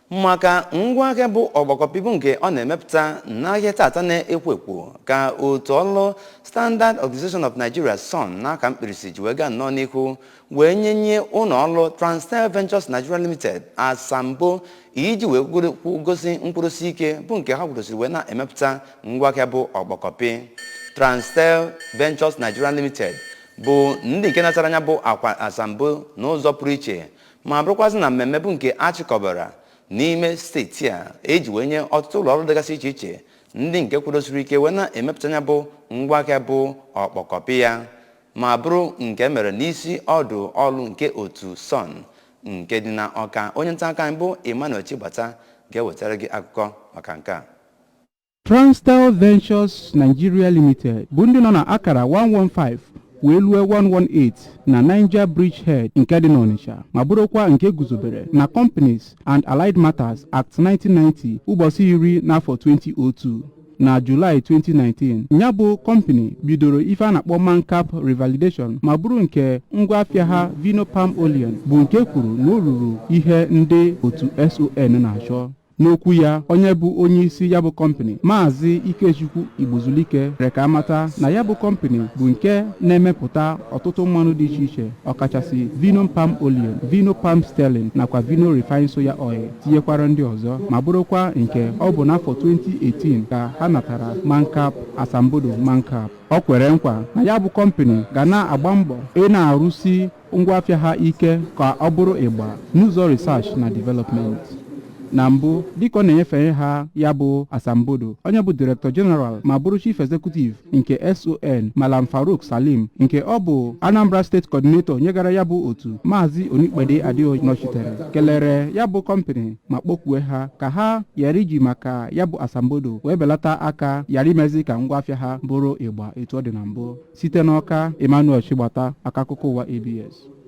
maka ngwa ahịa bụ ọkpọkọpị bụ nke ọ na-emepụta n'ahịa tata na-ekwo ekwo ka otu ọlụ Standard Organization of Nigeria SON n'aha mkpirisi ji wee gaa nnọọ n'ihu wee nyenye ụlọ ọrụ Transtell Ventures Nigeria Limited asambo iji wee gosi nkwụrụsi ike bụ nke ha kwụrụsiri wee na-emepụta ngwa ahịa bụ ọkpọkọpị Transtell Ventures Nigeria Limited bụ ndị nke natara nya bụ akwa asambo n'ụzọ pụrụ iche ma bụrụkwazị na mmemme bụ nke a chịkọbara n'ime steeti a eji wee nye ọtụtụ ụlọ ọrụ dịgasị iche iche ndị nke kwudosiri ike wee na-emepụta nya bụ ngwa ahịa bụ ọkpọkọpị ya ma bụrụ nke e mere n'isi ọdụ ọrụ nke otu son nke dị na ọka onye nta akụkọ anyị bụ emmanuel chigbata ga-ewetara gị akụkọ maka nke a Transtell Ventures Nigeria Limited bụ ndị nọ na akara 115 wee lue 118 na Niger Bridge Head nke dị n'Ọnịcha ma bụrụkwa nke guzobere na Companies and Allied Matters Act 1990 ụbọsị iri n'afọ 2002 na Julaị 2019 ya bụ kọmpani bidoro ife a na-akpọ Mancap Revalidation ma bụrụ nke ngwa afịa ha Vino Palm Olein bụ nke kwuru na o ruru ihe ndị otu SON na-achọ N'okwu ya, onye bụ onye isi ya bụ kọmpani Maazị Ikechukwu Igbozulike mere ka a mata na ya bụ kọmpani bụ nke na-emepụta ọtụtụ mmanụ dị iche iche ọkachasị vino palm olein, vino palm stearin nakwa vino refined soya oil tinyekwara ndị ọzọ ma bụrụkwa nke ọ bụ n'afọ 2018 ka ha natara mancap asambodo mancap ọ kwere nkwa na ya bụ kọmpani ga na-agba mbọ ị na-arụsi ngwa afịa ha ike ka ọ bụrụ ịgba n'ụzọ research na development na mbụ dịka ọ na-enyefe ha ya bụ asambodo onye bụ director general ma bụrụ chief executive nke son malam farouk salim nke ọ bụ anambra state coordinator nyegara ya bụ otu maazị onipede adeoye nọchitere kelere ya bụ kọmpani ma kpọkue ha ka ha ghara iji maka ya bụ asambodo wee belata aka ghara imezi ka ngwa afịa ha bụrụ ịgba etu ọ dị na mbụ site n'ọka emmanuel chigbata maka akụkọ ụwa abs